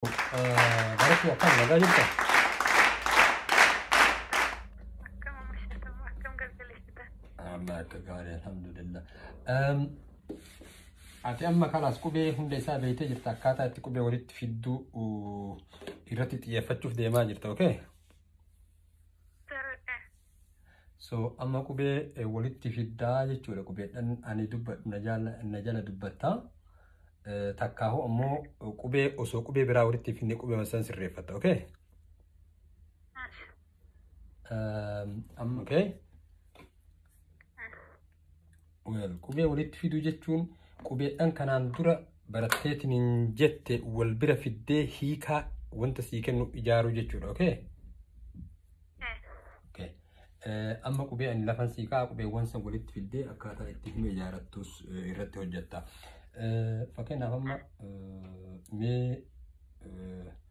Barakuu akkam nagaa jirta? Akkam omishatam, akkam galgaleessitan. Amma akka gaarii alhamdulillah. Ehm, Ati amma kalaas qubee hunda isaa beektee jirta akkaataa itti qubee walitti fidduu uu, irratti xiyyeeffachuuf deemaa jirta okay? Sarara. So amma qubee eh, walitti fiddaa jechuudha qubeedhaan ani dubbadhu na jala na jala dubbatta. Eh, Takkaahu ammoo eh, qubee osoo qubee biraa walitti hin fidne qubee san sirreeffatta okay? Um, amma okay? qubee walitti fiduu jechuun qubeedhaan kanaan dura baratteetiin hin jette wal bira fiddee hiikaa wanta sii kennu ijaaruu jechuudha. Okay? Okay. Eh, Amma qubee ani lafan sii ka'a qubeewwan san walitti fiddee akkaataa itti hima ijaarattus eh, irratti hojjetta. Eh, Fakkeenyaaf amma eh, mee eh,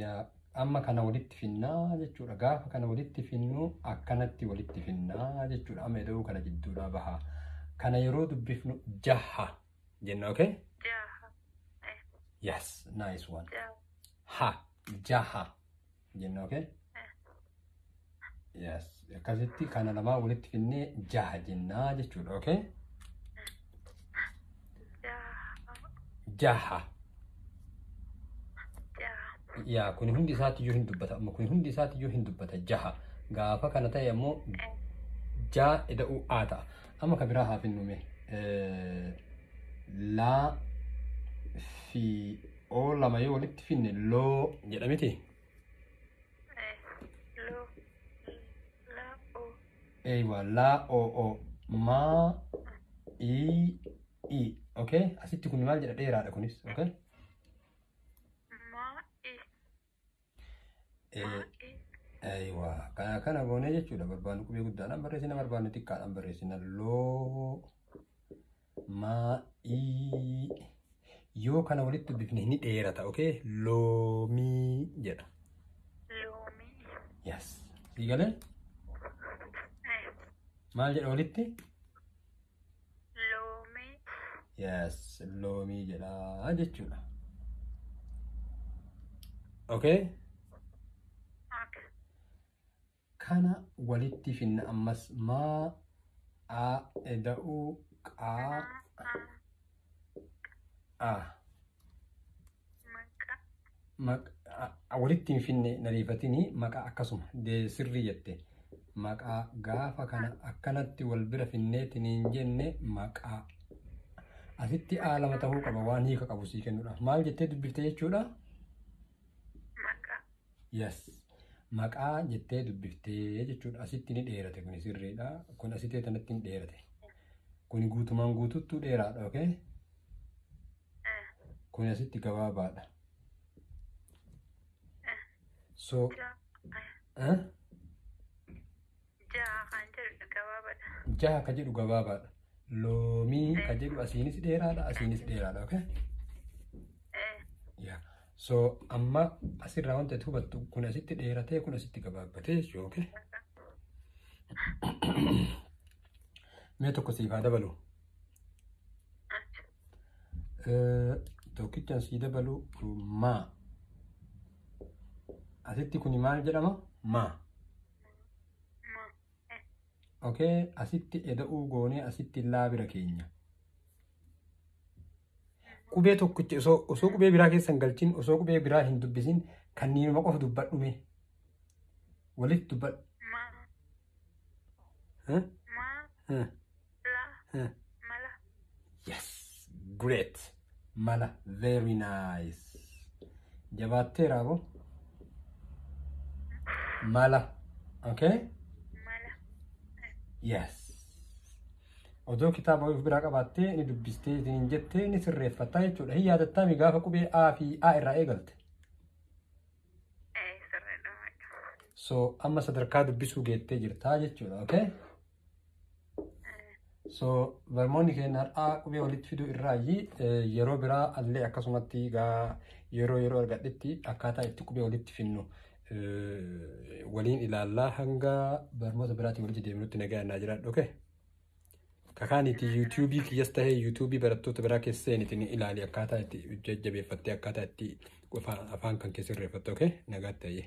yaa amma kana walitti finnaa jechuudha gaafa kana walitti finnuu akkanatti walitti finnaa jechuudha amma ida'uu kana jidduudhaa bahaa kana yeroo dubbifnu jaha jenna okay yes nice one ha jaha jenna okay yes akkasitti kana lamaa walitti finnee jaha jennaa jechuudha okay jaha yaa kuni hundi isaatti iyyuu hin dubbata amma kuni hundi isaatti iyyuu hin dubbata jaha gaafa kana ta'e ammoo jaa ida'uu aa ta'a amma ka biraa haa finnume laa fi oo lama yoo walitti finne loo jedha miti Eh, lo, la, o. eeywa laa oo oo maa ii ii okay asitti kun maal jedha dheeraadha kunis okay Ma, i. Aywa. Kana kana goonee jechuudha barbaannu qubee guddaadhaan barreessina barbaannu xiqqaadhaan barreessina loo maa ii yoo kana walitti dubbifne ni dheerata okay loomii jedha. Loomii. Yes. Sii galee? Maal jedha walitti? Loomii. Yes, loomii jedha jechuudha. Okay? Okay. Kana walitti finna ammas maa a eda'uu qaa Maa. a walitti hin finne nariifatini maqaa akkasuma sirrii jette maqaa gaafa kana akkanatti wal bira finneetiin hin jenne maqaa asitti a lama ta'uu qaba waan hiika qabu sii kennuudha maal jettee dubbifte jechuudha Yes. Maqaa jettee dubbiftee jechuudha. Asitti ni dheerate kun sirriidha. Kun asitee tanatti hin dheerate. Kun guutumaan guututtuu dheeraadha, okay? Kun asitti gabaabaadha. So, eh? Jaha kan jedhu gabaabadha. Jaha ka jedhu gabaabaadha. Loomii ka jedhu asiinis dheeraadha asiinis dheeraadha okay? Eh, Yeah. So amma asirraa wanti ati hubattu kun asitti dheeratee kun asitti gabaabbatee jechuudha okay? Mee tokko siif haa dabalu. achi. Eh, Tokkichaan sii dabalu maa. Asitti kuni maal jedhama? Maa. okay asitti eda'uu goonee asitti illaa bira keenya qubee tokkicha osoo osoo qubee biraa keessan galchin osoo qubee biraa hin dubbisin kanniinuma qofa dubbadhume walitti dubbadhu. Huh? Huh? La. Huh. Mala. Yes, great. Mala, very nice. Jabaatteera abo. Mala, okay? Mala. Yes. Odoo kitaaba of biraa qabaattee ni dubbistee isiniin jettee ni sirreeffattaa jechuudha. Hin yaadattaami gaafa qubee A fi A irraa eegalte. Eh, sirriidha. So amma sadarkaa dubbisuu geettee jirtaa jechuudha, okay? So barmoonni keenya har'aa qubee walitti fiduu irraayi yeroo biraa allee akkasumatti gaa yeroo yeroo argadhetti akkaataa itti qubee walitti finnu waliin ilaallaa hanga barmoota biraatiin walitti deemnutti nagaa naa jiraadhu okay? Kakaaniti yuutuubii kiyyas tahee yuutuubii barattoota biraa keessa seeniti ni ilaali akkaataa itti jajjabeeffattee akkaataa itti afaan kan keessa irreeffatte okay? Nagaa ta'ee.